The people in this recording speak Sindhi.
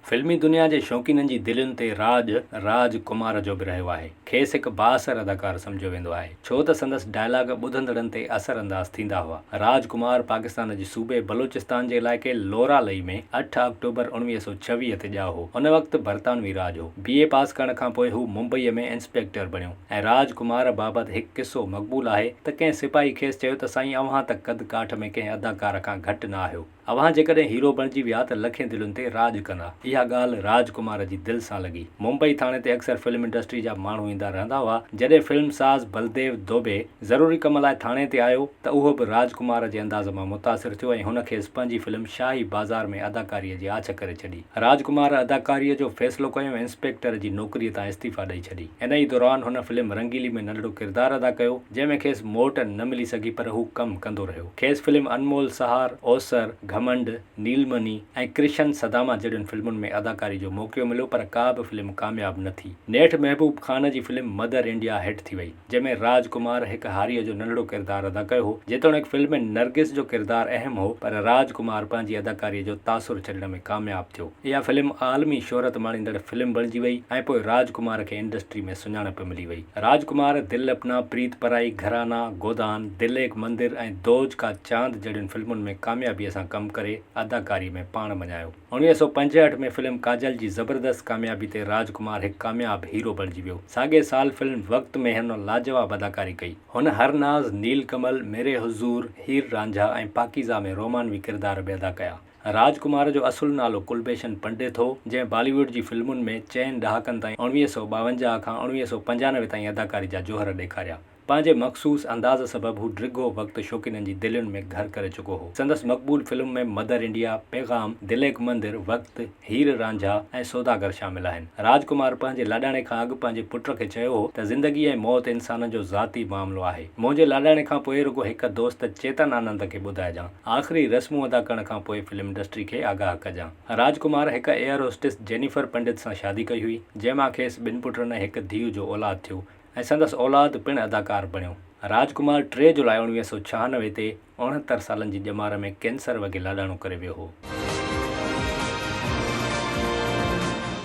فلمي دنيا جي شوقينن جي دلين تي راڄ راج ڪمار جو به رهيو آهي. کيس هڪ بااثر اداڪار سمجهيو ويندو آهي، ڇو ته سندس ڊائلاگ ٻڌندڙن تي اثر انداز ٿيندا هئا. راج ڪمار پاڪستان جي صوبي بلوچستان جي علائقي لورا لئي ۾ اٺ آڪٽوبر اڻويهه سؤ ڇويهه تي ڄائو هو. ان وقت برطانوي راڄ هو. بي اي پاس ڪرڻ کان پوء هو ممبئيء ۾ انسپيڪٽر بڻيو ۽ راج ڪمار بابت هڪ قصو مقبول آهي ته ڪنهن سپاهي کيس چيو ته سائين اوهان ته قد ڪاٺ ۾ ڪنهن اداڪار کان گهٽ نه آهيو. اوهان جيڪڏهن هيرو بڻجي ويا ته لکين دلين تي راڄ ڪندا. اها ڳالهه راج ڪمار جي دل سان لڳي. ممبئي ٿاڻي تي اڪثر فلم انڊسٽري جا ماڻهو ايندا رهندا هئا. جڏهن فلم ساز بلديو دوبي ضروري ڪم لاء ٿاڻي تي آيو ته اهو به راج ڪمار جي انداز مان متاثر ٿيو ۽ هن کيس پنهنجي فلم شاهي بازار ۾ اداڪاري جي آڇ ڪري ڇڏي. راج ڪمار اداڪاري جو فيصلو ڪيو ۽ انسپيڪٽر جي نوڪري تان استعيفا ڏئي ڇڏي. ان ئي دوران هن فلم رنگيلي ۾ ننڍڙو ڪردار ادا ڪيو جنهن ۾ کيس موٽ نه ملي سگهي پر هو ڪم ڪندو رهيو. کيس فلم انمول سهار، اوسر، گهمنڊ، نيلمني ۽ ڪرشن سداما جهڙين فلمن ۾ اداڪاري جو موقعو مليو پر ڪا به فلم ڪامياب نه ٿي. نيٺ محبوب خان جي فلم مدر انڊيا هٽ ٿي وئي، جنهن ۾ راج ڪمار هڪ هاريء جو ننڍڙو ڪردار ادا ڪيو هو. جيتوڻيڪ فلم ۾ نرگس جو ڪردار اهم هو پر راج ڪمار پنهنجي اداڪاري جو تاثر ڇڏڻ ۾ ڪامياب ٿيو. اها فلم عالمي شهرت ماڻيندڙ فلم بڻجي وئي ۽ پوء راج ڪمار کي انڊسٽري ۾ سڃاڻپ ملي وئي. راج ڪمار، دل اپنا، پريت پرائي، گھرانا، گودان، دل ايڪ مندر ۽ دوج ڪا چاند جهڙين فلمن ۾ ڪاميابيء سان ڪم ڪري اداڪاري ۾ پاڻ مڃايو. اڻويهه سؤ پنجهٺ ۾ فلم ڪاجل جي زبردست ڪاميابي تي راج ڪمار هڪ ڪامياب هيرو بڻجي ويو. ساڳئي سال فلم وقت ۾ هن لاجواب اداڪاري ڪئي. هن هر ناز، نيل ڪمل، ميري حضور، هير رانجها ۽ پاڪيزه ۾ رومانوي ڪردار به ادا ڪيا. راج ڪمار جو اصل نالو ڪلڀيشن پنڊت هو، جنهن بالي ووڊ جي فلمن ۾ چئن ڏهاڪن تائين اوڻويهه سؤ ٻاونجاهه کان اوڻويهه سؤ پنجانوي تائين اداڪاري جا جوهر ڏيکاريا. پنهنجي مخصوص انداز سبب هو ڊگهو وقت شوقينن جي دلين ۾ گهر ڪري چڪو هو. سندس مقبول film ۾ Mother India, Paigham, Dil Ek مندر، وقت، هير رانجها ۽ سوداگر شامل آهن. راج ڪمار پنهنجي لاڏاڻي کان اڳ پنهنجي پٽ کي چيو هو ته زندگي ۽ موت انسانن جو ذاتي معاملو آهي. منهنجي لاڏاڻي کان پوء رڳو هڪ دوست چيتن آنند کي ٻڌائجان. آخري رسمون ادا ڪرڻ کان پوء فلم انڊسٽري کي آگاهه ڪجان. راج ڪمار هڪ ايئر هوسٽس جينيفر پنڊت سان شادي ڪئي هئي، جنهن مان کيس ٻن پٽن ۽ هڪ ڌيء جو اولاد ٿيو ۽ سندس اولاد پڻ اداڪار بڻيو. راج ڪمار ٽي جولاء اڻويهه سؤ ڇهانوي تي اڻهتر سالن جي ڄمار ۾ ڪينسر وگهي لاڏاڻو ڪري ويو هو.